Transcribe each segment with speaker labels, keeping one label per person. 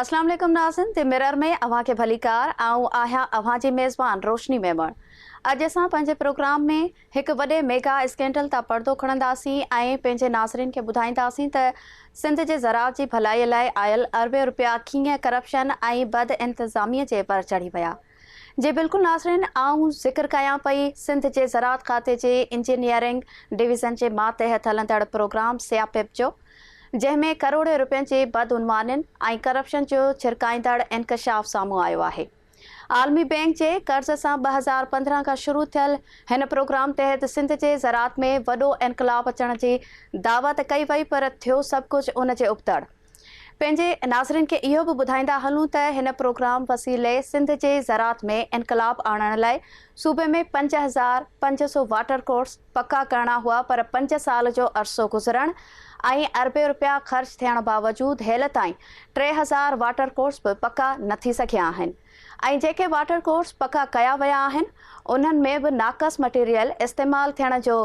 Speaker 1: اسلام عليڪم ناظرين تي مرر ۾ اوهان کي ڀليڪار آئون آهيان اوهان جي ميزبان روشني ميمڻ اڄ اسان پنهنجي پروگرام ۾ هڪ وڏي ميگا اسڪينڊل تان پردو کڻنداسين ۽ پنهنجي ناظرين کي ٻڌائينداسين ته سنڌ جي زراعت جي ڀلائي لاء آيل اربين روپيا ڪيئن ڪرپشن ۽ بد انتظامي جي ڀر چڙهي ويا جي بلڪل ناظرين آئون ذڪر ڪيان پئي سنڌ جي زراعت کاتي جي انجنيئرنگ ڊويزن جي ماتحت هلندڙ پروگرام سياپيپ جو جنهن ۾ ڪروڙين رپين جي بدعنوانين ۽ ڪرپشن جو ڇرڪائيندڙ انڪشاف سامهون آيو آهي عالمي بينڪ جي قرض سان ٻه هزار پندرهن کان شروع ٿيل هن پروگرام تحت سنڌ جي زراعت ۾ وڏو انقلاب اچڻ جي دعويٰ ته ڪئي وئي پر ٿيو سڀ ڪجهه ان جي ابتڙ پنهنجي ناظرين کي اهو به ٻڌائيندا هلون ته هن پروگرام وسيلي سنڌ جي زراعت ۾ انقلاب آڻڻ لاء صوبي ۾ پنج هزار پنج سو واٽر ڪورس پڪا ڪرڻا هئا پر پنج سال جو عرصو گذرڻ ۽ اربين رپيا خرچ ٿيڻ باوجود هيل تائين ٽي هزار واٽر ڪورس به پڪا نه ٿي سگهيا آهن ۽ جيڪي واٽر ڪورس پڪا ڪيا ويا آهن انهن ۾ به ناقص مٽيريل استعمال ٿيڻ جو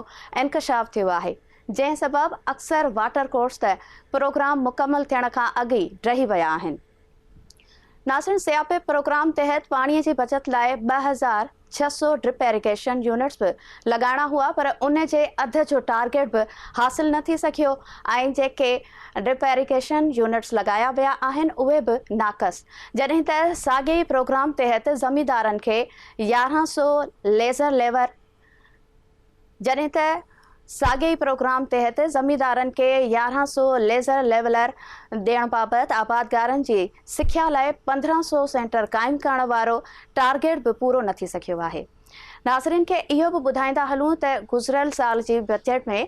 Speaker 1: انڪشاف ٿيو آهي جنهن سبب اڪثر واٽر ڪورس ته پروگرام مڪمل ٿيڻ کان اڳ ئي ڊهي ويا آهن. ناظرين سياپي پروگرام تحت پاڻي جي بچت لاء ٻه هزار ڇهه سؤ ڊرپ ايريگيشن يونٽس به لڳائڻا هئا پر ان جي اڌ جو ٽارگيٽ به حاصل نه ٿي سگهيو ۽ جيڪي ڊرپ ايريگيشن يونٽس لڳايا ويا آهن اهي به ناقص جڏهن ته ساڳئي پروگرام تحت زميندارن کي يارهن سؤ ليزر ليبر جڏهن ته ساڳئي ئي پروگرام تحت زميندارن کي يارهن سؤ ليزر ليولر ڏيڻ بابت آبادگارن جي سکيا لاء پندرهن سؤ سينٽر قائم ڪرڻ وارو ٽارگيٽ به پورو نه ٿي سگهيو آهي ناظرين کي اهو به ٻڌائيندا هلون ته گذريل سال جي بجيٽ ۾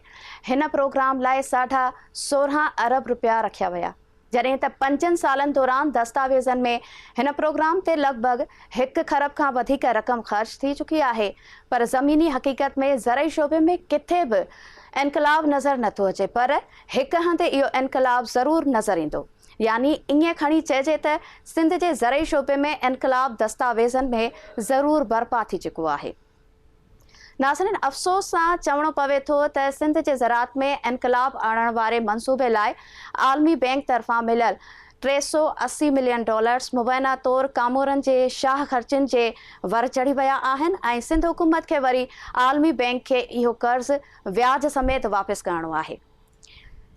Speaker 1: هن پروگرام لاء ساڍا سورهن ارب رپيا رکيا ويا جڏهن ته پنجن سالن دوران دستاويزن ۾ هن پروگرام تي لڳ ڀڳ هڪ کرب کان وڌيڪ رقم خرچ ٿي چڪي آهي پر زميني حقيقت ۾ زرعي شعبي ۾ ڪٿي به انقلاب نظر نه ٿو اچي پر هڪ هنڌ اهو انقلاب ضرور نظر ايندو يعني ائين کڻي چئجي ته سنڌ جي زرعي شعبي ۾ انقلاب دستاويزن ۾ ضرور برپا ٿي چڪو آهي. ناظرين افسوس سان چوڻو پوي ٿو ته سنڌ جي زراعت ۾ انقلاب آڻڻ واري منصوبي لاء عالمي بينڪ طرفان مليل ٽي سؤ اسي ملين ڊالرز مبينا طور ڪامورن جي شاهه خرچين جي ور چڙهي ويا آهن ۽ سنڌ حڪومت کي وري عالمي بينڪ کي اهو قرض وياج سميت واپس ڪرڻو آهي.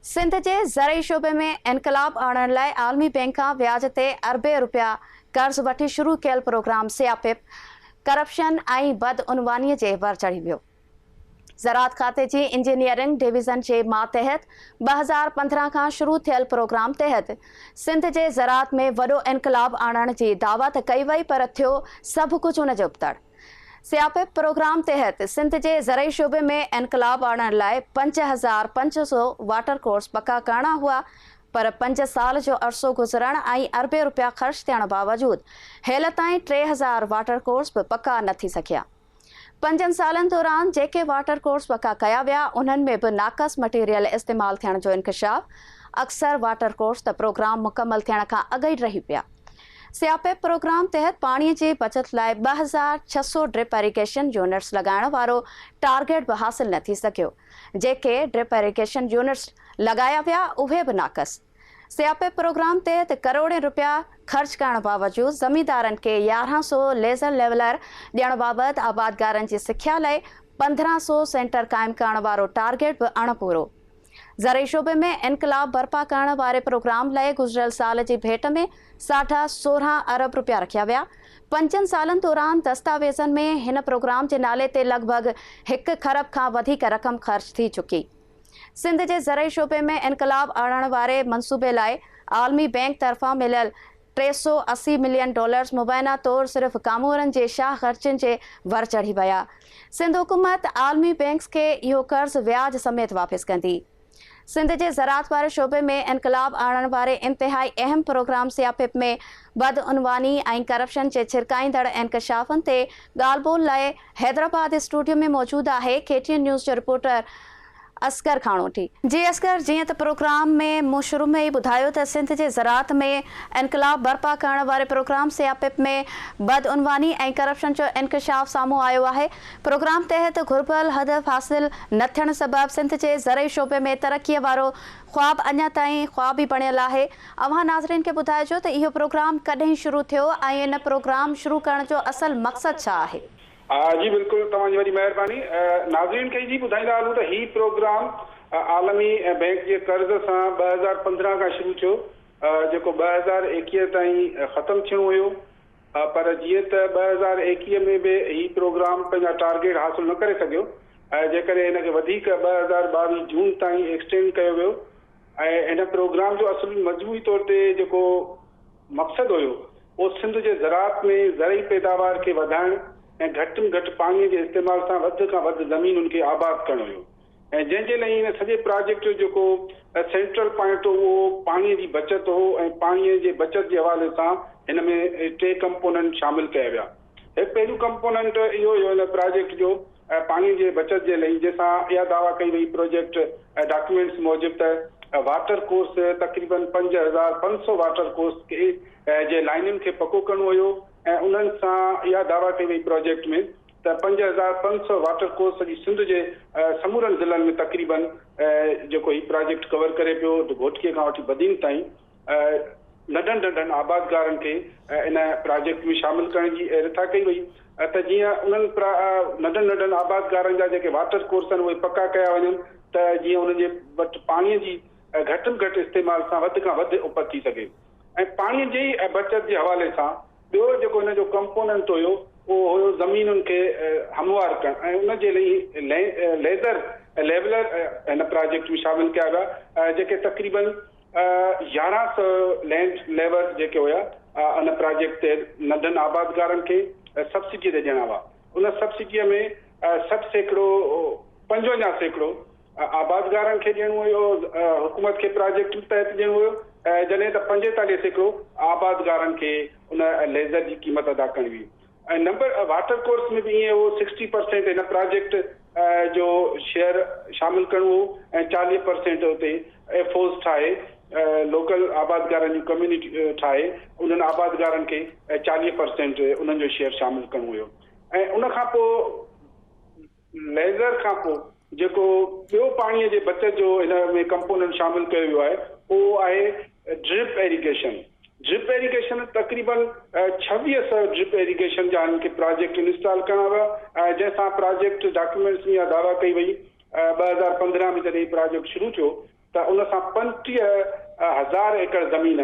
Speaker 1: سنڌ جي زرعي شعبي ۾ انقلاب آڻڻ لاء عالمي بينڪ کان وياج تي اربين رپيا قرض وٺي شروع ڪيل پروگرام سياپيپ، ڪرپشن ۽ بدعنواني جي ور چڙهي ويو. زراعت کاتي جي انجنيئرنگ ڊويزن جي ماتحت ٻه هزار پندرهن کان شروع ٿيل پروگرام تحت سنڌ جي زراعت ۾ وڏو انقلاب آڻڻ جي دعوت ڪئي وئي پر ٿيو سڀ ڪجهه ان جي ابتڙ. سياپيپ پروگرام تحت سنڌ جي زرعي شعبي ۾ انقلاب آڻڻ لاء پنج هزار پنج سو واٽر ڪورس پڪا ڪرڻا هئا پر پنج سال جو عرصو گذرڻ ۽ اربين رپيا خرچ ٿيڻ باوجود هيل تائين ٽي هزار واٽر ڪورس به پڪا نه ٿي سگهيا. پنجن سالن دوران جيڪي واٽر ڪورس پڪا ڪيا ويا انهن ۾ به ناقص مٽيريل استعمال ٿيڻ جو انڪشاف اڪثر واٽر ڪورس ته پروگرام مڪمل ٿيڻ کان اڳ ئي ڊهي پيا. سياپيپ پروگرام تحت پاڻي جي بچت لاء ٻه هزار ڇهه سؤ ڊرپ ايريگيشن يونٽس لڳائڻ وارو ٽارگيٽ به حاصل نه ٿي سگهيو، جيڪي ڊرپ ايريگيشن يونٽس لڳايا ويا اهي به ناقص، سياپيپ پروگرام تحت ڪروڙين روپيا خرچ ڪرڻ باوجود زميندارن کي يارهن سؤ ليزر ليولر ڏيڻ بابت آبادگارن جي سکيا لئي پندرهن سؤ سينٽر قائم ڪرڻ وارو ٽارگيٽ به اڻ پورو زرعي شعبي ۾ انقلاب برپا ڪرڻ واري پروگرام لئه گذريل سال جي ڀيٽ ۾ ساڍا سورهن ارب رپيا رکيا ويا، پنجن سالن دوران دستاويزن ۾ هن پروگرام جي نالي تي لڳ ڀڳ هڪ کرب کان وڌيڪ رقم خرچ ٿي چڪي. سنڌ جي زرعي شعبي ۾ انقلاب آڻڻ واري منصوبي لاء عالمي بينڪ طرفان مليل ٽي سؤ اسي ملين ڊالرز مبينا طور صرف ڪامورن جي شاهه خرچين جي ڀر چڙهي ويا. سنڌ حڪومت عالمي بئنڪس کي اهو قرض وياج سميت واپس ڪندي. سنڌ جي زراعت واري شعبي ۾ انقلاب آڻڻ واري انتهائي اهم پروگرام سياپپ ۾ بدعنواني ۽ ڪرپشن جي ڇرڪائيندڙ انڪشافن تي ڳالهه ٻولهه لاء حيدرآباد اسٽوڊيو ۾ موجود آهي ڪي ٽي اين نيوز جو رپورٽر اصغر کاڻوٽي، جي اصغر جيئن ته پروگرام ۾ مون شروع ۾ ئي ٻڌايو ته سنڌ جي زراعت ۾ انقلاب برپا ڪرڻ واري پروگرام سيا پ پ ۾ بدعنواني ۽ ڪرپشن جو انڪشاف سامهون آيو آهي پروگرام تحت گهربل هدف حاصل نه ٿيڻ سبب سنڌ جي زرعي شعبي ۾ ترقي وارو خواب اڃا تائين خواب ئي بڻيل آهي اوهان ناظرين کي ٻڌائجو ته اهو پروگرام ڪڏهن شروع ٿيو ۽ ان پروگرام شروع ڪرڻ جو اصل مقصد ڇا آهي. ها جي بلڪل
Speaker 2: توهان جي وڏي مهرباني. ناظرين کي جي ٻڌائيندا هلون ته هي پروگرام عالمي بئنڪ جي قرض سان ٻه هزار پندرهن کان شروع ٿيو جيڪو ٻه هزار ايڪيهه تائين ختم ٿيڻو هيو پر جيئن ته ٻه هزار ايڪيهه ۾ به هي پروگرام پنهنجا ٽارگيٽ حاصل نه ڪري سگهيو جنهن ڪري هن کي وڌيڪ ٻه هزار ٻاويهه جون تائين ايڪسٽينڊ ڪيو ويو ۽ هن پروگرام جو اصل مجموعي طور تي جيڪو مقصد هيو او سنڌ جي زراعت ۾ زرعي پيداوار کي وڌائڻ ۽ گهٽ م گهٽ پاڻي جي استعمال سان وڌ کان وڌ زمينن کي آباد ڪرڻو هيو ۽ جنهن جي لئي هن سڄي پراجيڪٽ جو جيڪو سينٽرل پوائنٽ هو اهو پاڻي جي بچت هو ۽ پاڻي جي بچت جي حوالي سان هن ۾ ٽي ڪمپوننٽ شامل ڪيا ويا هڪ پهريون ڪمپوننٽ اهو هيو ان پراجيڪٽ جو ۽ پاڻي جي بچت جي لئي جنهن سان اها دعويٰ ڪئي وئي پروجيڪٽ ۽ ڊاڪيومينٽس موجب ته واٽر ڪورس تقريباً پنج هزار پنج سؤ واٽر ڪورس کي جي لائنن کي پڪو ڪرڻو هيو ۽ انهن سان اها دعويٰ ڪئي وئي پراجيڪٽ ۾ ته پنج هزار پنج سؤ واٽر ڪورس سڄي سنڌ جي سمورن ضلعن ۾ تقريباً جيڪو هي پراجيڪٽ ڪور ڪري پيو گهوٽڪي کان وٺي بدين تائين ننڍن ننڍن آبادگارن کي ان پراجيڪٽ ۾ شامل ڪرڻ جي رٿا ڪئي وئي ته جيئن انهن ننڍن ننڍن آبادگارن جا جيڪي واٽر ڪورس آهن اهي پڪا ڪيا وڃن ته جيئن انهن جي وٽ پاڻي جي گهٽ ۾ گهٽ استعمال سان وڌ کان وڌ اپت ٿي سگهي ۽ پاڻي جي بچت جي حوالي سان ٻيو جيڪو هن جو ڪمپوننٽ هيو اهو هيو زمينن کي هموار ڪرڻ ۽ ان جي لئي ليزر ليولر هن پراجيڪٽ ۾ شامل ڪيا ويا جيڪي تقريبن يارهن سئو لينڊ ليورز جيڪي هيا ان پراجيڪٽ تحت ننڍن آبادگارن کي سبسڊيء تي ڏيڻا هئا. ان سبسڊيء ۾ سٺ سيڪڙو پنجونجاهه سيڪڙو آبادگارن کي ڏيڻو هيو حڪومت کي پراجيڪٽ تحت ڏيڻو هيو جڏهن ته پنجيتاليهه سيڪڙو آبادگارن کي ان ليزر جي قيمت ادا ڪرڻي هئي. ۽ نمبر واٽر ڪورس ۾ به ائين هو سڪسٽي پرسينٽ هن پراجيڪٽ جو شيئر شامل ڪرڻو هو ۽ چاليهه پرسينٽ اتي ايف اوز ٺاهي لوڪل آبادگارن جون ڪميونٽي ٺاهي انهن آبادگارن کي چاليهه پرسينٽ انهن جو شيئر شامل ڪرڻو هيو ۽ ان کان پوء ليزر کانپوء جيڪو ٻيو پاڻيء جي بچت جو هن ۾ ڪمپوننٽ شامل ڪيو ويو آهي اهو آهي ڊرپ ايريگيشن. ڊرپ ايريگيشن تقريبن ڇويهه سؤ ڊرپ ايريگيشن جا هن کي پراجيڪٽ انسٽال ڪرڻا ويا ۽ جنهن سان پراجيڪٽ ڊاڪيومينٽس ۾ اها دعويٰ ڪئي وئي ٻه هزار پندرهن ۾ جڏهن هي پراجيڪٽ شروع ٿيو ته ان سان پنجٽيهه هزار ايڪڙ زمين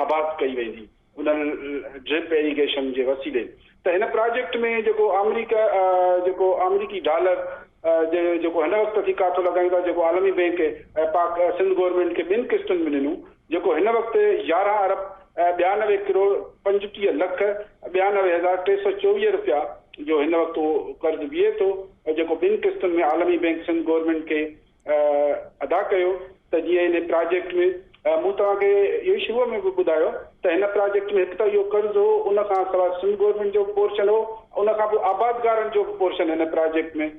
Speaker 2: آباد ڪئي ويندي. انهن ڊرپ ايريگيشن جي وسيلي ته هن پراجيڪٽ ۾ جيڪو آمريڪا جيڪو آمريڪي ڊالر جي جيڪو هن وقت اٿي ڪاٿو لڳايون ٿا جيڪو عالمي بينڪ ۽ پاڪ سنڌ گورنمينٽ کي ٻن قسطن ۾ ڏنو جيڪو هن وقت يارهن ارب ٻيانوي ڪروڙ پنجٽيهه لک ٻيانوي هزار ٽي سؤ چوويهه رپيا جو هن وقت اهو قرض بيهي ٿو ۽ جيڪو ٻن قسطن ۾ عالمي بينڪ سنڌ گورنمينٽ کي ادا ڪيو ته جيئن هن پراجيڪٽ ۾ مون توهان کي اهو شروع ۾ به ٻڌايو ته هن پراجيڪٽ ۾ هڪ ته اهو قرض هو ان کان سواء سنڌ گورنمينٽ جو به پورشن هو ان کان پوء آبادگارن جو به پورشن هن پراجيڪٽ ۾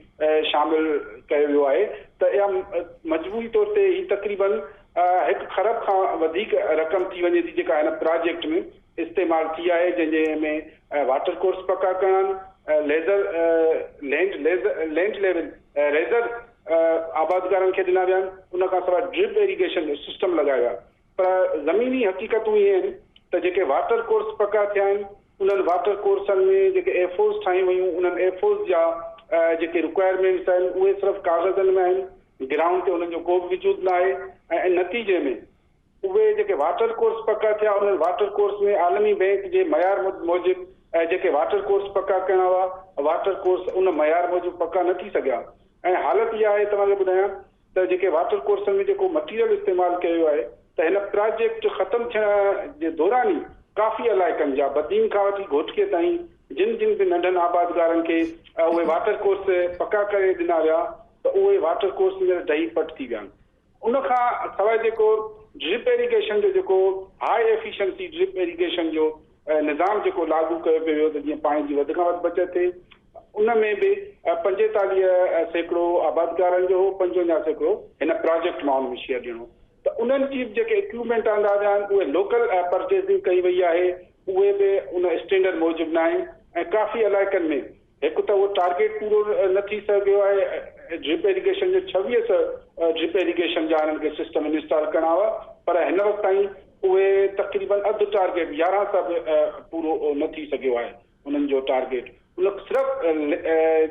Speaker 2: شامل ڪيو ويو آهي ته اها مجموعي طور تي هي تقريباً هڪ کرب کان وڌيڪ رقم ٿي وڃي ٿي جيڪا هن پراجيڪٽ ۾ استعمال ٿي آهي جنهن جي ۾ واٽر ڪورس پڪا ڪرڻ laser land laser land level laser آبادگارن کي ڏنا ويا آهن، ان کان سواء ڊرپ ايريگيشن سسٽم لڳايو ويو آهي پر زميني حقيقتون اهي آهن ته جيڪي واٽر ڪورس پڪا ٿيا آهن انهن واٽر ڪورسن ۾ جيڪي ايف اوز ٺاهيون ويون انهن ايف اوز جا جيڪي رڪوائرمينٽس آهن اهي صرف ڪاغذن ۾ آهن گرائونڊ تي انهن جو ڪو به وجود نه آهي ۽ نتيجي ۾ اهي جيڪي واٽر ڪورس پڪا ٿيا انهن واٽر ڪورس ۾ عالمي بئنڪ جي معيار موجب ۽ جيڪي واٽر ڪورس پڪا ڪرڻا هئا واٽر ڪورس ان معيار موجب پڪا نه ٿي سگهيا ۽ حالت اها آهي توهان کي ٻڌايان ته جيڪي واٽر ڪورسن ۾ جيڪو مٽيريل استعمال ڪيو ويو آهي ته هن پراجيڪٽ ختم ٿيڻ جي دوران ئي ڪافي علائقن جا بدين کان وٺي گهوٽڪي تائين جن جن به ننڍن آبادگارن کي اهي واٽر ڪورس پڪا ڪري ڏنا ويا ته اهي واٽر ڪورس هينئر ڊهي پٽ ٿي ويا آهن. ان کان سواء جيڪو ڊرپ ايريگيشن جو جيڪو هاء ايفيشنسي ڊرپ ايريگيشن جو نظام جيڪو لاڳو ڪيو پيو ويو ته جيئن پاڻي جي وڌ کان وڌ بچت ٿئي ان ۾ به پنجيتاليهه سيڪڙو آبادگارن جو هو پنجونجاهه سيڪڙو هن پراجيڪٽ مان ان ۾ شيئر ڏيڻو ته انهن جي به جيڪي اڪيوپمينٽ آندا ويا آهن اهي لوڪل پرچيزنگ ڪئي وئي آهي اهي به ان اسٽينڊرڊ موجب ناهن ۽ ڪافي علائقن ۾ هڪ ته اهو ٽارگيٽ پورو نه ٿي سگهيو آهي ۽ ڊرپ ايريگيشن جي ڇويهه سئو ڊرپ ايريگيشن جا هنن کي سسٽم انسٽال ڪرڻا هئا پر هن وقت تائين اهي تقريبن اڌ ٽارگيٽ يارهن سئو به پورو نه ٿي سگهيو آهي انهن جو ٽارگيٽ ان صرف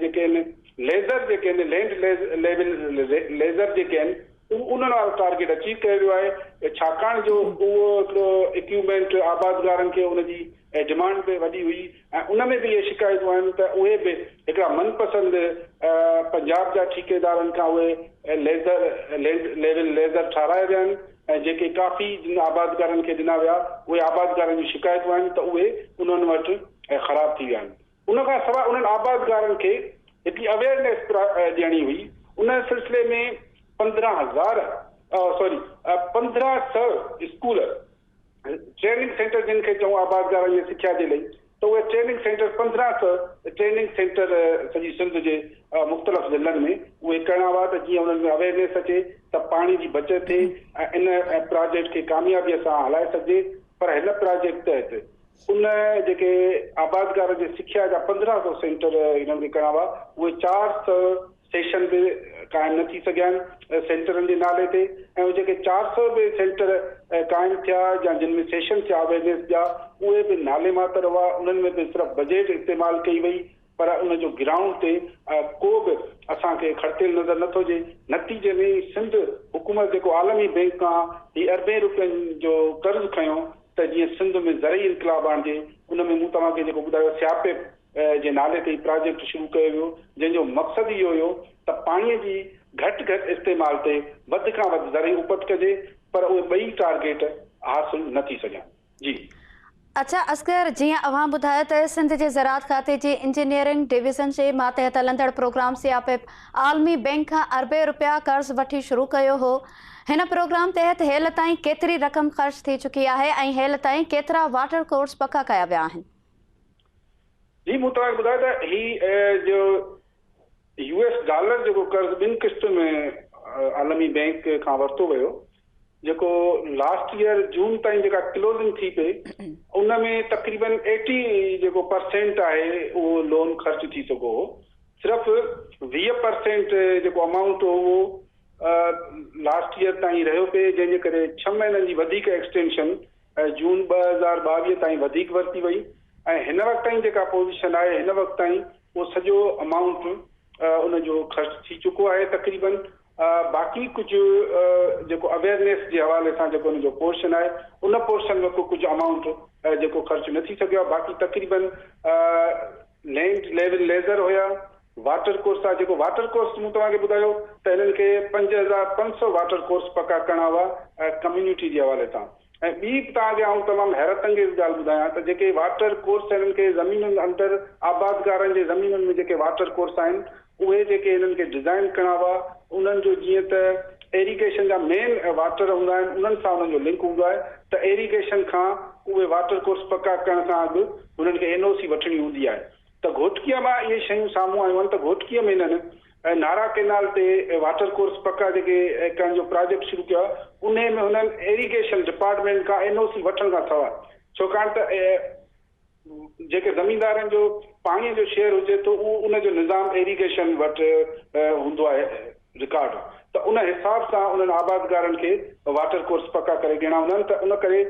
Speaker 2: جيڪي آهن ليزر جيڪي آهن لينڊ ليول ليزر جيڪي آهن انهن وارو ٽارگيٽ اچيو ڪيو ويو آهي ڇاڪاڻ جو اهو هڪڙو اڪيوپمينٽ آبادگارن کي ان جي ڊمانڊ به وڏي هئي ۽ ان ۾ به اهي شڪايتون آيون ته اهي به هڪڙا من پسند پنجاب جا ٺيڪيدارن کان اهي ليزر لينڊ ليول ليزر ٺاهرايا ويا آهن ۽ جيڪي ڪافي جن آبادگارن کي ڏنا ويا اهي آبادگارن جون شڪايتون آيون ته اهي انهن وٽ خراب ٿي ويا آهن ان کان سواء انهن آبادگارن کي هڪڙي اويئرنيس ڏيڻي هئي ان سلسلي ۾ پندرهن هزار سوري پندرهن سئو اسڪول ٽريننگ سينٽر جن کي چئون آبادگارائي ۽ سکيا جي لئي ته اهي ٽريننگ سينٽر پندرهن سئو ٽريننگ سينٽر سڄي سنڌ جي مختلف ضلعن ۾ اهي ڪرڻا هئا ته جيئن انهن ۾ اويئرنيس اچي ته پاڻي جي بچت ٿئي ۽ ان پراجيڪٽ کي ڪاميابي سان هلائي سگهجي پر هن پراجيڪٽ تحت ان جيڪي آبادگار جي سکيا جا پندرهن سئو سينٽر هنن کي ڪرڻا هئا اهي چار سئو سيشن به قائم نه ٿي سگهيا آهن سينٽرن جي نالي تي ۽ هو جيڪي چار سؤ به سينٽر قائم ٿيا يا جن ۾ سيشن ٿيا اويرنيس جا اهي به نالي ماتر هئا انهن ۾ به صرف بجيٽ استعمال ڪئي وئي پر ان جو گرائونڊ تي ڪو به اسان کي کڙتيل نظر نه ٿو اچي نتيجي ۾ سنڌ حڪومت جيڪو عالمي بينڪ کان هي اربين روپين جو قرض کنيو ته جيئن سنڌ ۾ زرعي انقلاب آڻجي ان ۾ مون توهان کي جيڪو ٻڌايو سياپي جي نالي تي هي پراجيڪٽ شروع ڪيو ويو جنهن جو مقصد اهو هيو ته پاڻي جي گهٽ گهٽ استعمال تي وڌ کان وڌ زرعي اپت ڪجي پر اهي ٻئي ٽارگيٽ حاصل نه ٿي سگهيا جي. اچا
Speaker 1: اصغر جيئن اوهان ٻڌايو ته سنڌ جي زراعت کاتي جي انجنيئرنگ ڊويزن جي ماتحت هلندڙ پروگرام سياپيپ عالمي بئنڪ کان اربين رپيا قرض وٺي شروع ڪيو هو هن پروگرام تحت هيل تائين ڪيتري رقم خرچ ٿي چڪي آهي ۽ هيل تائين ڪيترا واٽر ڪورس پڪا ڪيا ويا آهن.
Speaker 2: جي مون توهان کي ٻڌايو ته هي جو يو ايس ڊالر جيڪو قرض ٻن قسطن ۾ عالمي بينڪ کان ورتو ويو جيڪو لاسٽ يئر جون تائين جيڪا ڪلوزنگ ٿي پئي ان ۾ تقريبن ايٽي جيڪو پرسينٽ آهي اهو لون خرچ ٿي چڪو هو صرف ويهه پرسينٽ جيڪو امائونٽ هو اهو لاسٽ يئر تائين رهيو پئي جنهن جي ڪري ڇهه مهينن جي وڌيڪ ايڪسٽينشن جون ٻه هزار ٻاويهه تائين وڌيڪ ورتي وئي ۽ هن وقت تائين جيڪا پوزيشن آهي هن وقت تائين اهو سڄو امائونٽ ان جو خرچ ٿي چڪو آهي تقريبا باقي ڪجهه جيڪو اويرنيس جي حوالي سان جيڪو ان جو پورشن آهي ان پورشن وقت ڪجهه امائونٽ جيڪو خرچ نه ٿي سگهيو آهي باقي تقريبا لينڊ ليول ليزر هيا، واٽر ڪورس هئا، جيڪو واٽر ڪورس مون توهان کي ٻڌايو ته هنن کي پنج هزار پنج سؤ واٽر ڪورس پڪا ڪرڻا هئا ڪميونٽي جي حوالي سان ۽ ٻي به توهان کي آئون تمام حيرت انگيز ڳالهه ٻڌايان ته جيڪي واٽر ڪورس هنن کي زمينن اندر آبادگارن جي زمينن ۾ جيڪي واٽر ڪورس آهن اهي جيڪي هنن کي ڊزائن ڪڻا هئا انهن جو جيئن ته ايريگيشن جا مين واٽر هوندا آهن انهن سان انهن جو لنڪ هوندو آهي ته ايريگيشن کان اهي واٽر ڪورس پڪا ڪرڻ کان اڳ هنن کي اين او سي وٺڻي هوندي آهي ته گهوٽڪيء مان اهي شيون سامهون آيون آهن ته گهوٽڪيء ۾ هنن نارا ڪينال تي واٽر ڪورس پڪا جيڪي ڪرڻ جو پراجيڪٽ شروع ڪيو آهي انهي ۾ هنن ايريگيشن ڊپارٽمينٽ کان اين او سي وٺڻ کان سواء ڇوڪاڻ ته جيڪي زميندارن جو پاڻي جو شيئر هجي ٿو اهو ان جو نظام ايريگيشن وٽ هوندو آهي رڪارڊ ته ان حساب سان انهن آبادگارن کي واٽر ڪورس پڪا ڪري ڏيڻا هوندا آهن ته ان ڪري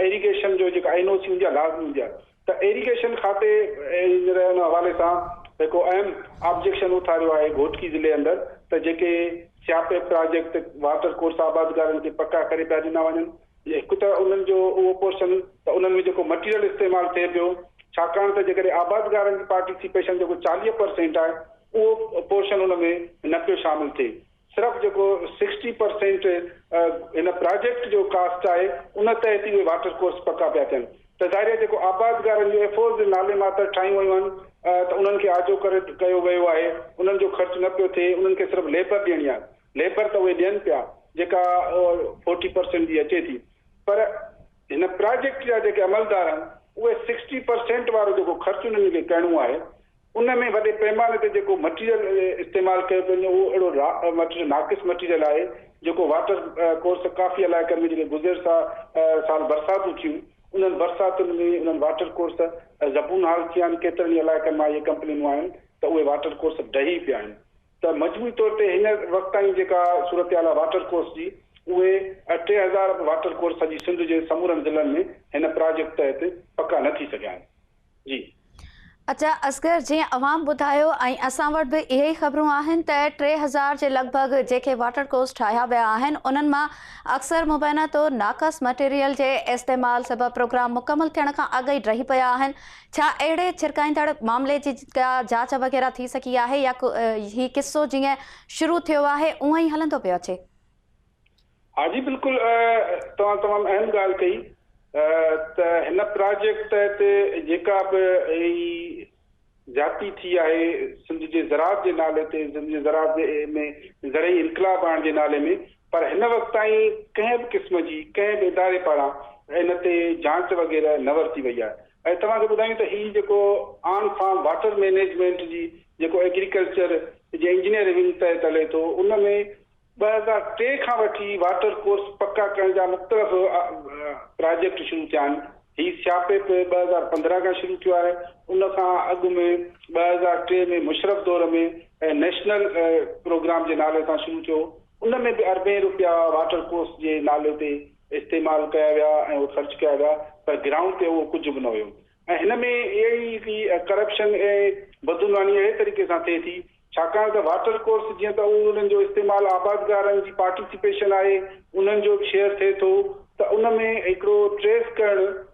Speaker 2: ايريگيشن جو جيڪا اين او سي هوندي آهي لازمي هوندي آهي ته ايريگيشن کاتي هينئر ان حوالي سان هڪ اهم آبجيڪشن اٿاريو آهي گهوٽڪي ضلعي اندر ته جيڪي سياپي پراجيڪٽ واٽر ڪورس آبادگارن کي پڪا ڪري پيا ڏنا وڃن هڪ ته انهن جو اهو پورشن ته انهن ۾ جيڪو مٽيريل استعمال ٿئي پيو ڇاڪاڻ ته جيڪڏهن آبادگارن جي پارٽيسيپيشن جيڪو چاليهه پر سينٽ آهي اهو پورشن ان ۾ نه پيو شامل ٿئي صرف جيڪو سڪسٽي پر سينٽ هن پراجيڪٽ جو ڪاسٽ آهي ان تحت ئي اهي واٽر ڪورس پڪا پيا ٿين ته ظاهري آهي جيڪو آبادگارن جو ايفورز نالي ماتر ٺاهيون ويون آهن ته انهن کي آجو ڪري ڪيو ويو آهي انهن جو خرچ نه پيو ٿئي انهن کي صرف ليبر ڏيڻي آهي ليبر ته اهي ڏين پيا جيڪا فورٽي پرسينٽ جي اچي ٿي پر هن پراجيڪٽ جا جيڪي عملدار آهن اهي سڪسٽي پرسينٽ وارو جيڪو خرچ انهن کي ڪرڻو آهي ان ۾ وڏي پيماني تي جيڪو مٽيريل استعمال ڪيو پيو وڃي اهو اهڙو مٽيريل ناقص مٽيريل آهي جيڪو واٽر ڪورس ڪافي علائقن ۾ جيڪي گذر سا سال برساتون ٿيون انهن برساتن ۾ انهن واٽر ڪورس زبون حال ٿيا آهن ڪيترن ئي علائقن مان اهي ڪمپلينون آيون ته اهي واٽر ڪورس ڊهي پيا آهن ته مجموعي طور تي هن وقت تائين جيڪا صورتحال آهي واٽر ڪورس جي اهي ٽي هزار واٽر ڪورس سڄي سنڌ جي سمورن ضلعن ۾ هن پراجيڪٽ تحت پڪا نه ٿي سگهيا آهن جي. اچا
Speaker 1: اصغر جيئن اوهان ٻڌايو ۽ اسان وٽ به اهي ئي خبرون آهن ته ٽي هزار جي لڳ ڀڳ جيڪي واٽر ڪورس ٺاهيا ويا آهن انهن مان اڪثر مبينا طور ناقص مٽيريل جي استعمال سبب پروگرام مڪمل ٿيڻ کان اڳ ئي ڊهي پيا آهن ڇا اهڙي ڇرڪائيندڙ معاملي جي ڪا جاچ وغيره ٿي سگهي آهي يا هي قصو جيئن شروع ٿيو آهي اونئن ئي هلندو پيو اچي؟
Speaker 2: ها جي بلڪل توهان تمام اهم ڳالهه ڪئي ته هن پراجيڪٽ تحت جيڪا به هي زيادتي ٿي آهي سنڌ جي زراعت جي نالي تي سنڌ جي زراعت ۾ زرعي انقلاب آڻڻ جي نالي ۾ پر هن وقت تائين ڪنهن به قسم جي ڪنهن به اداري پاران ان تي جاچ وغيره نه ورتي وئي آهي ۽ توهان کي ٻڌايون ته هي جيڪو آن فارم واٽر مينيجمينٽ جي جيڪو ايگريڪلچر جي انجنيئر ونگ تحت هلي ٿو ان ۾ ٻه هزار ٽي کان وٺي واٽر ڪورس پڪا ڪرڻ جا مختلف پراجيڪٽ شروع ٿيا آهن هي سياپيپ ٻه هزار پندرهن کان شروع ٿيو آهي ان کان اڳ ۾ ٻه هزار ٽي ۾ مشرف دور ۾ نيشنل پروگرام جي نالي سان شروع ٿيو ان ۾ به اربين روپيا واٽر ڪورس جي نالي تي استعمال ڪيا ويا ۽ اهي خرچ ڪيا ويا پر گرائونڊ تي اهو ڪجهه به نه هيو ۽ هن ۾ اهڙي ريتي ڪرپشن ۽ بدعنواني اهڙي طريقي سان ٿئي ٿي ڇاڪاڻ ته واٽر ڪورس جيئن ته انهن جو استعمال آبادگارن جي پارٽيسپيشن آهي انهن جو به شيئر ٿئي ٿو ته ان ۾ هڪڙو ٽريس ڪرڻ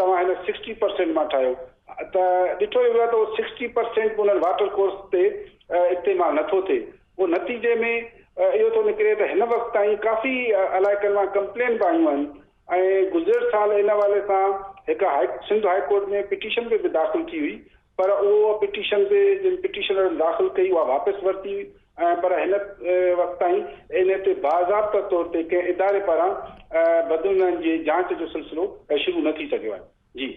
Speaker 2: توهان هن سڪسٽي پرسينٽ مان ٺاهيو ته ڏٺو ئي ويو آهي ته اهو سڪسٽي پرسينٽ به انهن واٽر ڪورس تي استعمال نه ٿو ٿئي پوء نتيجي ۾ اهو ٿو نڪري ته هن وقت تائين ڪافي علائقن مان ڪمپلين به آيون آهن ۽ گذريل سال ان حوالي سان هڪ high Sindh high court ۾ petition به داخل ٿي هئي پر اها پٽيشن به جن پٽيشنرن داخل ڪئي اها واپس ورتي وئي ۽ پر هن وقت تائين ان تي باضابطه طور تي ڪنهن اداري پاران بدعنوانين جي جاچ جو سلسلو شروع نه ٿي سگهيو آهي. جي.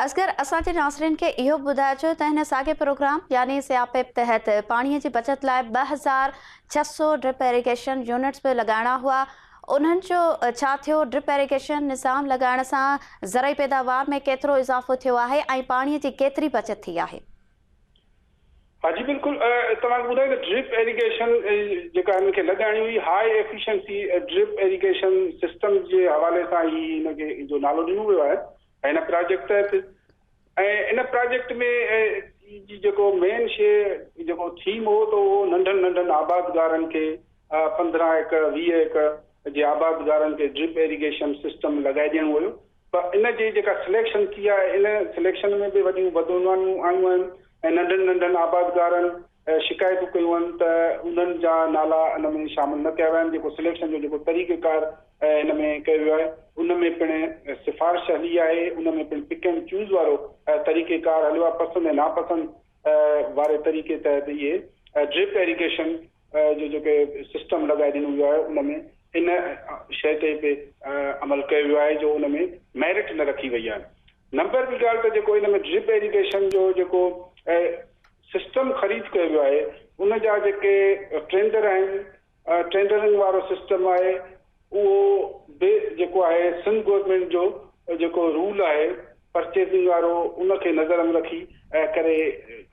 Speaker 2: اصغر
Speaker 1: اسان جي ناظرين کي اهو به ٻڌائجو ته هن ساڳئي پروگرام يعني سياهه پيپ تحت پاڻي جي بچت لاء ٻه هزار ڇهه سؤ ڊرپ ايريگيشن يونٽس به لڳائڻا هئا، انهن جو ڇا ٿيو، ڊرپ ايريگيشن نظام لڳائڻ سان زرعي پيداوار ۾ ڪيترو اضافو ٿيو آهي ۽ پاڻي جي ڪيتري بچت ٿي آهي؟
Speaker 2: ها جي بلڪل توهان کي ٻڌايو ته ڊرپ ايريگيشن جيڪا هن کي لڳائڻي هئي high efficiency drip irrigation system جي حوالي سان هي هن کي جو نالو ڏنو ويو آهي ۽ هن پراجيڪٽ تحت ۽ ان پراجيڪٽ ۾ جي جيڪو مين شيء جيڪو ٿيم هو ته اهو ننڍن ننڍن آبادگارن کي پندرهن ايڪڙ ويهه ايڪڙ جي آبادگارن کي ڊرپ ايريگيشن سسٽم لڳائي ڏيڻو هيو ته ان جي جيڪا سليڪشن ٿي آهي ان سليڪشن ۾ به وڏيون بدعنوانيون آيون آهن ۽ ننڍن ننڍن آبادگارن شڪايتون ڪيون آهن ته انهن جا نالا ان ۾ شامل نه ڪيا ويا آهن جيڪو سليڪشن جو جيڪو طريقه ڪار ان ۾ ڪيو ويو آهي ان ۾ پڻ سفارش هلي آهي ان ۾ پڻ پڪ اينڊ چوز وارو طريقه ڪار هليو آهي پسند ۽ ناپسند واري طريقي تحت اهي ڊرپ ايريگيشن جو جيڪي سسٽم لڳائي ڏنو ويو آهي ان ۾ ان شيء تي به عمل ڪيو ويو آهي جو ان ۾ ميرٽ نه رکي وئي آهي نمبر ٻي ڳالهه ته جيڪو ان ۾ ڊرپ ايريگيشن جو جيڪو سسٽم خريد ڪيو ويو آهي ان جا جيڪي ٽرينڊر آهن ٽرينڊرنگ وارو سسٽم آهي اهو به جيڪو آهي سنڌ گورنمينٽ جو جيڪو رول آهي پرچيزنگ وارو ان کي نظر م رکي ۽ ڪري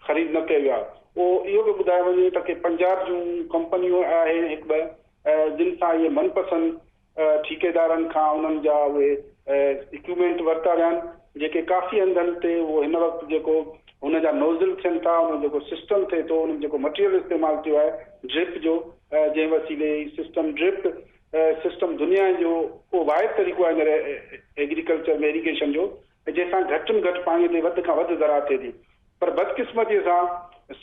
Speaker 2: خريد نه ڪيو ويو آهي اهو اهو به ٻڌايو وڃي ته ڪي پنجاب جون ڪمپنيون آهن هڪ ٻه جن سان اهي من پسند ٺيڪيدارن کان انهن جا اهي اڪيومينٽ ورتا ويا آهن جيڪي ڪافي هنڌن تي اهو هن وقت جيڪو هن جا نوزل ٿين ٿا ان جيڪو سسٽم ٿئي ٿو ان ۾ جيڪو مٽيريل استعمال ٿيو آهي ڊرپ جو جنهن وسيلي هي سسٽم ڊرپ سسٽم دنيا جو اهو واحد طريقو آهي هينئر ايگريڪلچر ۾ ايريگيشن جو جنهن سان گهٽ م گهٽ پاڻي تي وڌ کان وڌ زراعت ٿئي ٿي پر بدقسمتيء سان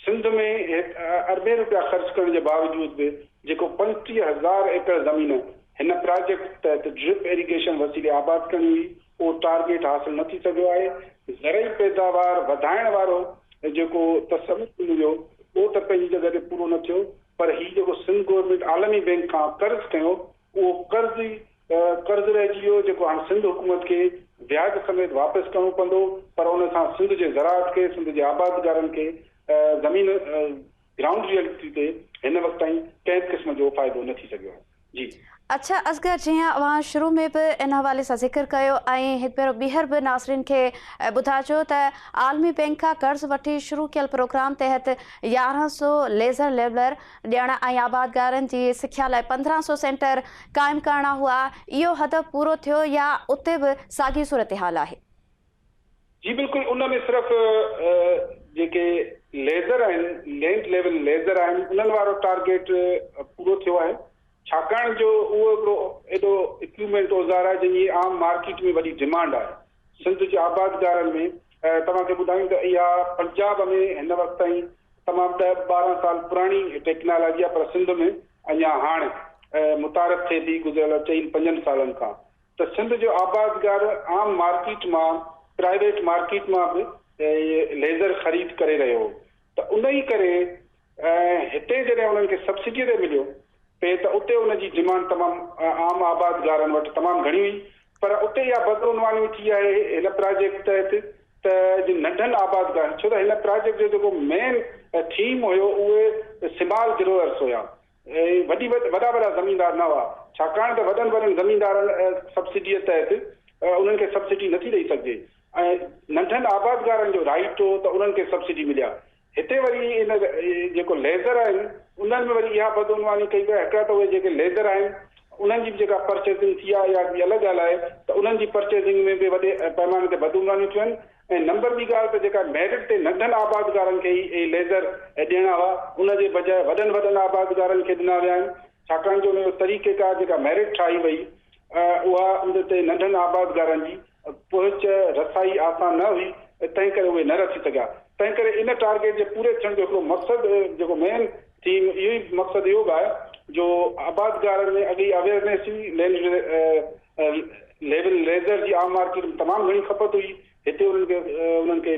Speaker 2: سنڌ ۾ هڪ اربين روپيا خرچ ڪرڻ جي باوجود به جيڪو پنجٽيهه هزار ايڪڙ زمين هن پراجيڪٽ تحت ڊرپ ايريگيشن وسيلي آباد ڪرڻي هئي اهو ٽارگيٽ حاصل نه ٿي سگهيو آهي، زرعي پيداوار وڌائڻ وارو جيڪو تصور ڏنو ويو اهو ته پنهنجي جڳهه تي پورو نه ٿيو پر هي جيڪو سنڌ گورنمينٽ عالمي بينڪ کان قرض کنيو اهو قرض ئي قرض رهجي ويو جيڪو هاڻ سنڌ حڪومت کي وياج سميت واپس ڪرڻو پوندو پر ان سان سنڌ جي زراعت کي سنڌ جي آبادگارن کي زمين گرائونڊ ريئلٽي تي هن وقت تائين ڪنهن به قسم جو فائدو نه ٿي سگهيو آهي جي. اڇا اصغر
Speaker 1: جيئن اوهان شروع ۾ به ان حوالي سان ذڪر ڪيو ۽ هڪ ڀيرو ٻيهر به ناظرين کي ٻڌائجو ته عالمي بينڪ کان قرض وٺي شروع ڪيل پروگرام تحت يارهن سو ليزر ليولر ڏيڻ ۽ آبادگارن جي سکيا لاء پندرهن سؤ سينٽر قائم ڪرڻا هئا، اهو هدف پورو ٿيو يا اتي به ساڳي صورتحال آهي؟ جي
Speaker 2: بلڪل، ان ۾ صرف جيڪي ليزر آهن، لينٽ ليول ليزر آهن، انهن وارو ٽارگيٽ پورو ٿيو آهي، ڇاڪاڻ جو اهو هڪڙو اهڙو اڪيوپمينٽ اوزار آهي جنهن جي عام مارڪيٽ ۾ وڏي ڊمانڊ آهي. سنڌ جي آبادگارن ۾ توهان کي ٻڌايون ته اها پنجاب ۾ هن وقت تائين تمام ڏهه ٻارهن سال پراڻي ٽيڪنالاجي آهي پر سنڌ ۾ اڃا هاڻي متعارف ٿئي ٿي گذريل چئن پنجن سالن کان ته سنڌ جو آبادگار عام مارڪيٽ مان پرائيويٽ مارڪيٽ مان به ليزر خريد ڪري رهيو هو ته انهي ڪري ۽ هتي جڏهن انهن کي سبسڊيء تي مليو پئي ته اتي ان جي ڊمانڊ تمام عام آبادگارن وٽ تمام گهڻي هئي پر اتي اها بدعنواني ٿي آهي هن پراجيڪٽ تحت ته جن ننڍن آبادگارن ڇو ته هن پراجيڪٽ جو جيڪو مين ٿيم هيو اهي سمال گروئرس هيا ۽ وڏي وڏا وڏا زميندار نه هئا ڇاڪاڻ ته وڏن وڏن زميندارن سبسڊيء تحت انهن کي سبسڊي نٿي ڏئي سگهجي ۽ ننڍن آبادگارن جو رائٽ هو ته انهن کي سبسڊي ملي ها هتي وري ان جيڪو ليزر آهن انهن ۾ وري اها بدعنواني ڪئي وئي هڪڙا ته اهي جيڪي ليزر آهن انهن جي به جيڪا پرچيزنگ ٿي آهي اها ٻي الڳ ڳالهه آهي ته انهن جي پرچيزنگ ۾ به وڏي پئماني تي بدعنوانيون ٿيون آهن ۽ نمبر ٻي ڳالهه ته جيڪا ميرٽ تي ننڍن آبادگارن کي ئي اهي ليزر ڏيڻا هئا ان جي بجاء وڏن وڏن آبادگارن کي ڏنا ويا آهن ڇاڪاڻ جو ان جو طريقيڪار جيڪا ميرٽ ٺاهي وئي اها ان تي ننڍن آبادگارن جي پهچ رسائي آسان نه هئي تنهن ڪري اهي نه رسي سگهيا تنهن ڪري ان ٽارگيٽ جي پوري ٿيڻ جو هڪڙو مقصد جيڪو مين ٿيم اهو ئي مقصد اهو به آهي جو آبادگارن ۾ اڳ ئي اويئرنيس هئي لينڊ ليول ريزر جي عام مارڪيٽ ۾ تمام گهڻي کپت هئي هتي انهن کي انهن کي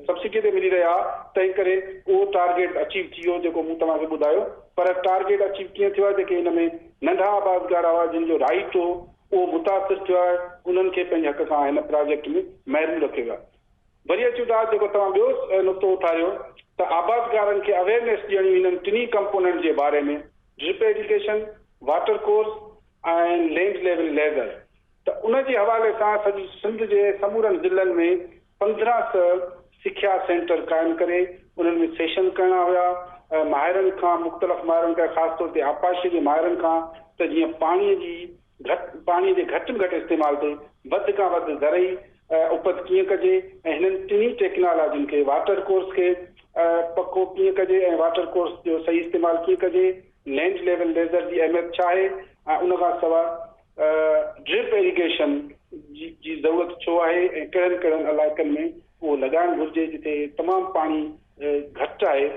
Speaker 2: سبسڊي تي ملي رهيا ها تنهن ڪري اهو ٽارگيٽ اچيو ٿي ويو جيڪو مون توهان کي ٻڌايو پر ٽارگيٽ اچيو ڪيئن ٿيو آهي جيڪي ان ۾ ننڍا آبادگار هئا جن جو رائيٽ هو اهو متاثر ٿيو آهي انهن کي پنهنجي حق کان هن پراجيڪٽ ۾ محروم رکيو ويو آهي. وري اچون ٿا جيڪو توهان ٻيو نقطو اٿاريو ته آبادگارن کي اويئرنيس ڏيڻي انهن ٽنهي ڪمپوننٽ جي باري ۾ drip irrigation, water course ۽ land level laser ته ان جي حوالي سان سڄي سنڌ جي سمورن ضلعن ۾ پندرهن سئه سکيا سينٽر قائم ڪري انهن ۾ سيشن ڪرڻا هيا ۽ ماهرن کان مختلف ماهرن کان خاص طور تي آبپاشيء جي ماهرن کان ته جيئن پاڻيء جي گهٽ پاڻيء جي گهٽ ۾ گهٽ استعمال تي وڌ کان وڌ زرعي اپت ڪيئن ڪجي ۽ هنن ٽنهي ٽيڪنالاجين کي واٽر ڪورس کي پڪو ڪيئن ڪجي ۽ واٽر ڪورس جو صحيح استعمال ڪيئن ڪجي لينڊ ليول ليزر جي اهميت ڇا آهي ۽ ان کان سواء ڊرپ ايريگيشن جي ضرورت ڇو آهي ۽ ڪهڙن ڪهڙن علائقن ۾ اهو لڳائڻ گهرجي جتي تمام پاڻي گهٽ آهي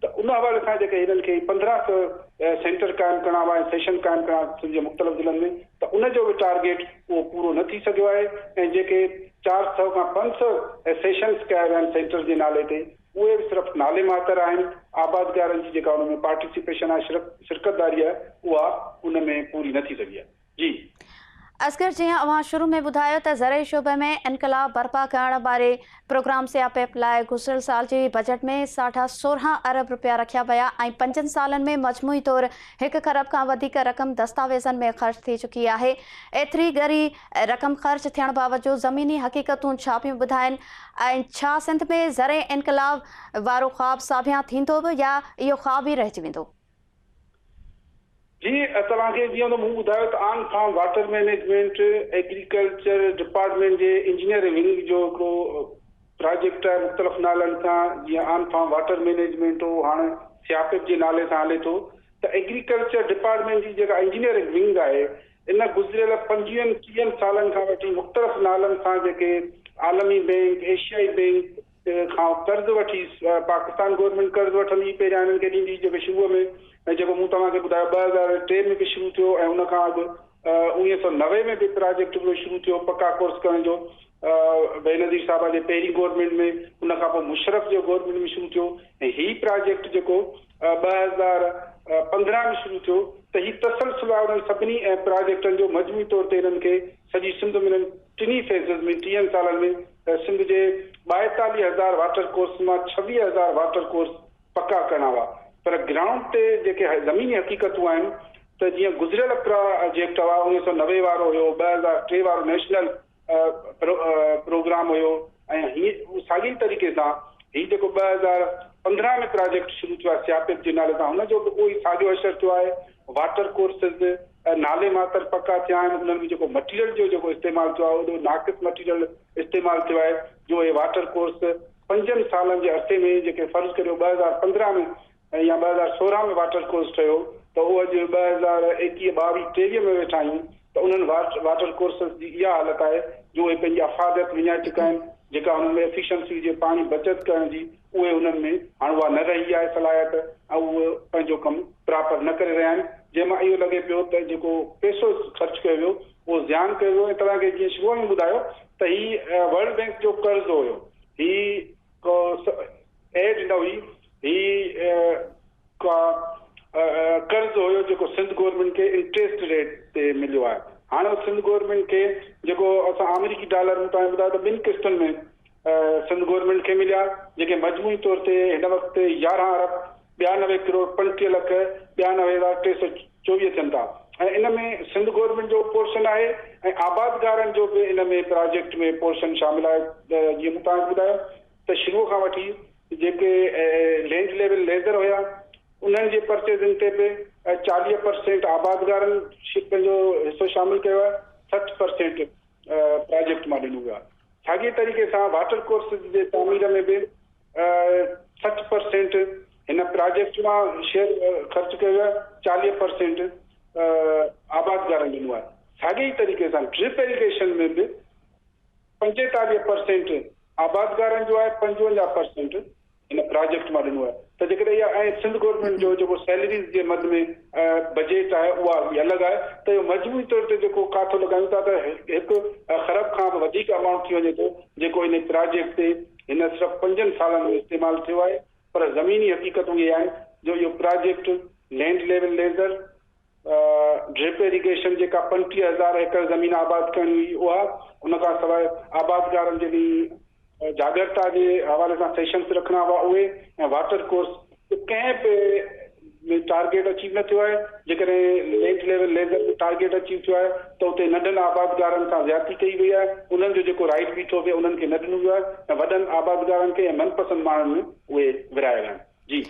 Speaker 2: ته ان حوالي سان جيڪي هنن کي پندرهن سئو سينٽر قائم ڪرڻا هئا ۽ سيشن قائم ڪرڻا سنڌ جي مختلف ضلعن ۾ ته ان جو به ٽارگيٽ اهو پورو نه ٿي سگهيو آهي ۽ جيڪي چار سئو کان پنج سئو سيشنس ڪيا ويا آهن سينٽر جي نالي تي اهي به صرف نالي ماتر آهن، آبادگارن جي جيڪا ان ۾ پارٽيسيپيشن آهي، شرڪ، شرڪتداري آهي، اها ان ۾ پوري نه ٿي سگهي آهي. جي. اصغر
Speaker 1: جيئن اوهان شروع ۾ ٻڌايو ته زرعي شعبي ۾ انقلاب برپا ڪرڻ واري پروگرام سيا پيپ لاء گذريل سال جي بجيٽ ۾ ساڍا سورهن ارب رپيا رکيا ويا ۽ پنجن سالن ۾ مجموعي طور هڪ کرب کان وڌيڪ رقم دستاويزن ۾ خرچ ٿي چڪي آهي ايتري ڳري رقم خرچ ٿيڻ باوجود زميني حقيقتون ڇا پيون ٻڌائين ۽ ڇا سنڌ ۾ زرعي انقلاب وارو خواب ساڀيان ٿيندو به يا اهو خواب ئي رهجي ويندو؟
Speaker 2: جي توهان کي جيئن ته مون ٻڌايو ته on farm water management agriculture department جي انجنيئر ونگ جو هڪڙو پراجيڪٽ آهي مختلف نالن سان جيئن آن فارم واٽر مئنيجمينٽ هو هاڻ سياپيپ جي نالي سان هلي ٿو ته ايگريڪلچر ڊپارٽمينٽ جي جيڪا انجنيئر ونگ آهي ان گذريل پنجويهن ٽيهن سالن کان وٺي مختلف نالن سان جيڪي عالمي بينڪ، ايشيائي بينڪ کان قرض وٺي پاڪستان گورنمينٽ قرض وٺندي پهريان انهن کي ڏيندي جيڪو شروع ۾ جيڪو مون توهان کي ٻڌايو ٻه هزار ٽي ۾ به شروع ٿيو ۽ ان کان اڳ اوڻيهه سؤ نوي ۾ به پراجيڪٽ اهو شروع ٿيو پڪا ڪورس ڪرڻ جو بينظير صاحب جي پهرين گورنمينٽ ۾ ان کان پوء مشرف جي گورنمينٽ ۾ شروع ٿيو ۽ هي پراجيڪٽ جيڪو ٻه هزار پندرهن ۾ شروع ٿيو ته هي تسلسل آهي انهن سڀني ۽ پراجيڪٽن جو مجموعي طور تي انهن کي سڄي سنڌ ۾ انهن ٽنهي فيزز ۾ ٽيهن سالن ۾ سنڌ جي ٻائيتاليهه هزار واٽر ڪورس مان ڇويهه هزار واٽر ڪورس پڪا ڪرڻا هئا پر گرائونڊ تي جيڪي زميني حقيقتون آهن ته جيئن گذريل پراجيڪٽ هئا اڻويهه سؤ نوي وارو هيو ٻه هزار ٽي وارو نيشنل پروگرام هيو ۽ هي ساڳي طريقي سان هي جيڪو ٻه هزار پندرهن ۾ پراجيڪٽ شروع ٿيو آهي سياپيپ جي نالي سان هن جو به اهو ئي ساڳيو اشر ٿيو آهي واٽر ڪورسز نالي ماتر پڪا ٿيا آهن انهن ۾ جيڪو مٽيريل جو جيڪو استعمال ٿيو آهي اهو ناقص مٽيريل استعمال ٿيو آهي جو هي واٽر ڪورس پنجن سالن جي عرصي ۾ جيڪي فرض ڪريو ٻه هزار پندرهن ۾ ۽ يا ٻه هزار سورهن ۾ واٽر ڪورس ٺهيو ته اهو اڄ ٻه هزار ايڪيهه ٻاويهه ٽيويهه ۾ ويٺا آهيون ته انهن واٽر ڪورسز جي اها حالت آهي جو اهي پنهنجي افاديت وڃائي چڪا آهن جيڪا انهن ۾ افيشنسي هجي پاڻي بچت ڪرڻ جي اهي انهن ۾ هاڻ اها نه رهي آهي صلاحيت ۽ اهي پنهنجو ڪم پراپر نه ڪري رهيا آهن جنهن مان اهو لڳي پيو ته جيڪو پيسو خرچ ڪيو ويو اهو زيان ڪيو ويو ۽ توهان کي جيئن شروع ۾ ٻڌايو ته هي ورلڊ بينڪ جو قرض هيو هي ڪو ايڊ نه هئي، هي ڪا قرض هيو جيڪو سنڌ گورنمينٽ کي انٽريسٽ ريٽ تي مليو آهي. هاڻ اهو سنڌ گورنمينٽ کي جيڪو اسان آمريڪي ڊالر ۾ توهان کي ٻڌايو ته ٻن قسطن ۾ سنڌ گورنمينٽ کي مليا جيڪي مجموعي طور تي هن وقت يارهن ارب ٻيا نوي ڪروڙ پنجٽيهه لک ٻيانوي هزار ٽي سؤ چوويهه ٿين ٿا ۽ ان ۾ سنڌ گورنمينٽ جو به پورشن آهي ۽ آبادگارن جو به ان ۾ پراجيڪٽ ۾ پورشن شامل آهي ته جيئن مون توهان کي ٻڌايو ته شروع کان وٺي جيڪي لينڊ ليول ليزر هيا انهن جي پرچيزنگ تي به چاليهه پرسينٽ آبادگارن پنهنجو حصو شامل ڪيو آهي سٺ پرسينٽ پراجيڪٽ مان ڏنو ويو آهي. ساڳئي طريقي سان واٽر ڪورسز جي تعمير ۾ به سٺ پرسينٽ هن پراجيڪٽ مان شيئر خرچ ڪيو ويو آهي، چاليهه پرسينٽ آبادگارن ڏنو آهي. ساڳئي طريقي سان ڊرپ ايريگيشن ۾ به پنجيتاليهه پرسينٽ آبادگارن جو آهي، پنجونجاهه پرسينٽ ان پراجيڪٽ مان ڏنو آهي ته جيڪڏهن اها ۽ سنڌ گورنمينٽ جو جيڪو سيلريز جي مد ۾ بجيٽ آهي اها اڳي الڳ آهي ته اهو مجموعي طور تي جيڪو ڪاٿو لڳايون ٿا ته هڪ خرب کان به وڌيڪ امائونٽ ٿي وڃي ٿو جيڪو ان پراجيڪٽ تي هن صرف پنجن سالن ۾ استعمال ٿيو آهي پر زميني حقيقتون اهي آهن جو اهو project land level laser drip irrigation جيڪا پنجٽيهه هزار ايڪڙ زمين آباد ڪرڻي هئي اها، ان کان سواء آبادگارن جي جاڳرتا جي حوالي سان سيشنز رکڻا هئا اهي ۽ واٽر ڪورس جو ڪنهن به ۾ ٽارگيٽ اچيو نه ٿيو آهي، جيڪڏهن land level laser ۾ target achieve ٿيو آهي ته اتي ننڍن آبادگارن سان زيادتي ڪئي وئي آهي، انهن جو جيڪو رائيٽ بيٺو پئي انهن کي نه ڏنو ويو آهي ۽ وڏن آبادگارن کي ۽ من پسند ماڻهن ۾ اهي ورهايا ويا آهن. جي.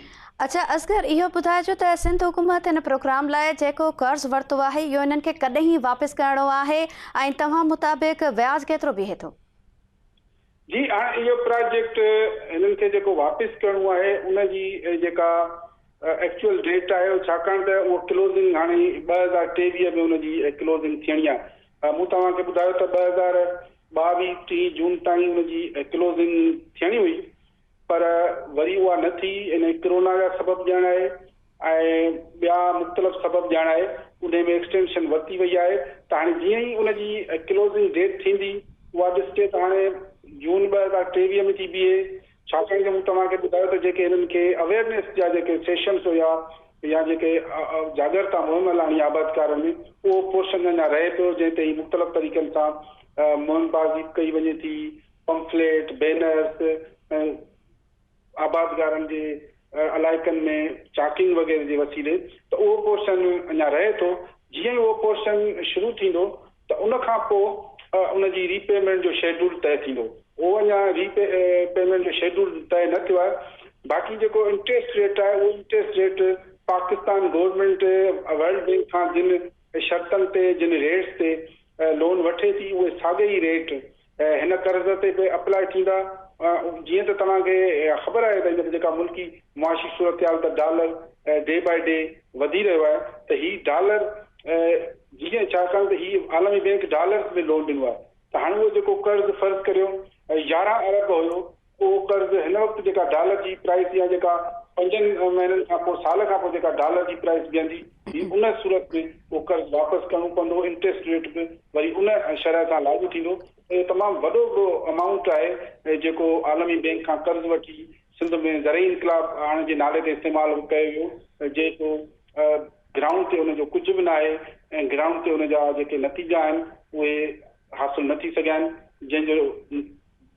Speaker 2: اچا اصغر
Speaker 1: اهو ٻڌائجو ته سنڌ حڪومت هن پروگرام لاء جيڪو قرض ورتو آهي اهو انهن کي ڪڏهن واپس ڪرڻو آهي ۽ توهان مطابق وياج ڪيترو بيهي ٿو؟
Speaker 2: جي هاڻ اهو پراجيڪٽ هنن کي جيڪو واپس ڪرڻو آهي ان جي جيڪا ايڪچوئل ڊيٽ آهي ڇاڪاڻ ته اهو ڪلوزنگ هاڻي ٻه هزار ٽيويهه ۾ ان جي ڪلوزنگ ٿيڻي آهي مون توهان کي ٻڌايو ته ٻه هزار ٻاويهه ٽيهه جون تائين ان جي ڪلوزنگ ٿيڻي هئي پر وري اها نه ٿي، انهي ڪرونا جا سبب ڄڻ آهي ۽ ٻيا مختلف سبب ڄڻ آهي، انهي ۾ ايڪسٽينشن ورتي وئي آهي ته هاڻي جيئن ئي ان جي ڪلوزنگ ڊيٽ ٿيندي اها ڏسجي ته هاڻي جون ٻه هزار ٽيويهه ۾ ٿي بيهي ڇاڪاڻ جو مون توهان کي ٻڌايو ته جيڪي هنن کي اويئرنيس جا جيڪي سيشنس هيا يا جيڪي جاڳرتا مهم هلائڻي آهي آبادڪارن ۾ اهو پورشن اڃا رهي پيو جنهن تي هي مختلف طريقن سان مهم بازي ڪئي وڃي ٿي. پمفليٽ، بينرز ۽ آبادگارن جي علائقن ۾ چاڪنگ وغيره جي وسيلي ته اهو پورشن اڃا رهي ٿو، جيئن ئي اهو پورشن شروع ٿيندو ته ان کان پوء ان جي ري پيمينٽ جو شيڊول طئي ٿيندو، اهو اڃا ري پيمينٽ جو شيڊول طئي نه ٿيو آهي، باقي جيڪو انٽريسٽ ريٽ آهي اهو interest rate Pakistan government World Bank کان جن شرطن تي جن ريٽس تي لون وٺي ٿي اهي ساڳي ئي ريٽ هن قرض تي به اپلاء ٿيندا جيئن ته توهان کي خبر آهي ته هينئر جي جيڪا ملڪي معاشي صورتحال ته ڊالر ڊي باء ڊي وڌي رهيو آهي ته هي ڊالر جيئن ڇاڪاڻ ته هي عالمي بينڪ ڊالرز ۾ لون ڏنو آهي ته هاڻ اهو جيڪو قرض فرض ڪريو يارهن ارب هيو اهو قرض هن وقت جيڪا ڊالر جي پرائس يا جيڪا پنجن مهينن کان پوء سال کان پوء جيڪا ڊالر جي پرائس بيهندي هي ان صورت ۾ اهو قرض واپس ڪرڻو پوندو انٽريسٽ ريٽ به وري ان شرح سان لاڳو ٿيندو اهو تمام وڏو هڪڙو امائونٽ آهي جيڪو عالمي بينڪ کان قرض وٺي سنڌ ۾ زرعي انقلاب آڻڻ جي نالي تي استعمال ڪيو ويو جيڪو گرائونڊ تي ان جو ڪجهه به ناهي ۽ گرائونڊ تي ان جا جيڪي نتيجا آهن اهي حاصل نه ٿي سگهيا آهن جنهن جو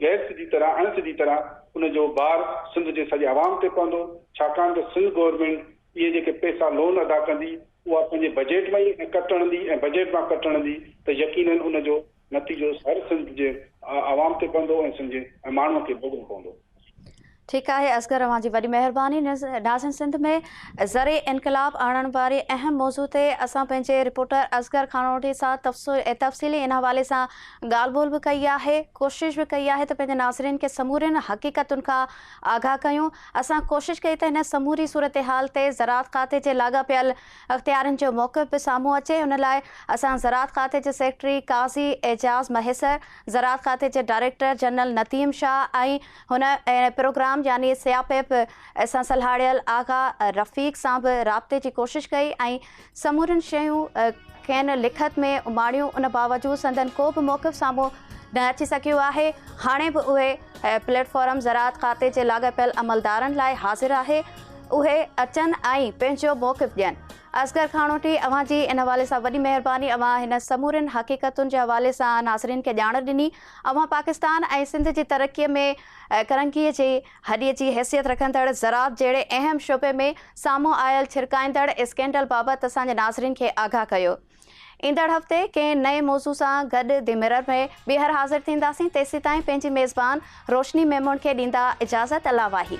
Speaker 2: گئس جي طرح اڻ سڌي طرح ان جو بار سنڌ جي سڄي عوام تي پوندو ڇاڪاڻ ته سنڌ گورنمينٽ اهي جيڪي پئسا لون ادا ڪندي اها پنهنجي بجيٽ مان ئي ۽ ڪٽ اڻندي ۽ بجيٽ مان ڪٽ اڻندي ته يقينن ان جو نتيجو هر سنڌ جي عوام تي پوندو ۽ سنڌ جي ماڻهوء کي ڀوڳڻو پوندو. ٺيڪ آهي
Speaker 1: اصغر اوهان جي وڏي مهرباني ناظرين سنڌ ۾ زرعي انقلاب آڻڻ واري اهم موضوع تي اسان پنهنجي رپورٽر اصغر خانوٽي سان تفصيلي ان حوالي سان ڳالهه ٻولهه به ڪئي آهي ڪوشش به ڪئي آهي ته پنهنجي ناظرين کي سمورين حقيقتن کان آگاهه ڪيون اسان ڪوشش ڪئي ته هن سموري صورتحال تي زراعت کاتي جي لاڳاپيل اختيارين جو موقف به سامهون اچي ان لاء اسان زراعت کاتي جي سيڪريٽري قاضي اعجاز مهيسر زراعت کاتي جي ڊائريڪٽر جنرل نديم شاهه ۽ هن ان پروگرام يعني سياپيپ سان سلهاڙيل آغا رفيق سان به رابطي جي ڪوشش ڪئي ۽ سمورين شيون کين لکت ۾ اماڻيون ان باوجود سندن ڪو به موقف سامهون نه اچي سگهيو آهي هاڻي به اهي پليٽ فارم زراعت کاتي جي لاڳاپيل عملدارن لاء حاضر آهي اهي اچن ۽ پنهنجو موقف ڏين اصغر کاڻوٽي اوهان جي ان حوالي سان وڏي مهرباني اوهان هن سمورين حقيقتن جي حوالي سان ناظرين کي ڄاڻ ڏني اوهان پاڪستان ۽ سنڌ جي ترقي ۾ ڪرنگهي جي هڏي جي حيثيت رکندڙ زراعت جهڙي اهم شعبي ۾ سامهون آيل ڇرڪائيندڙ اسڪينڊل بابت اسان جي ناظرين کي آگاهه ڪيو. ايندڙ هفتي ڪنهن نئين موضوع سان گڏ دي ميرر ۾ ٻيهر حاضر ٿينداسين تيسيتائين پنهنجي ميزبان روشني ميمڻ کي ڏيندا اجازت الله واهي.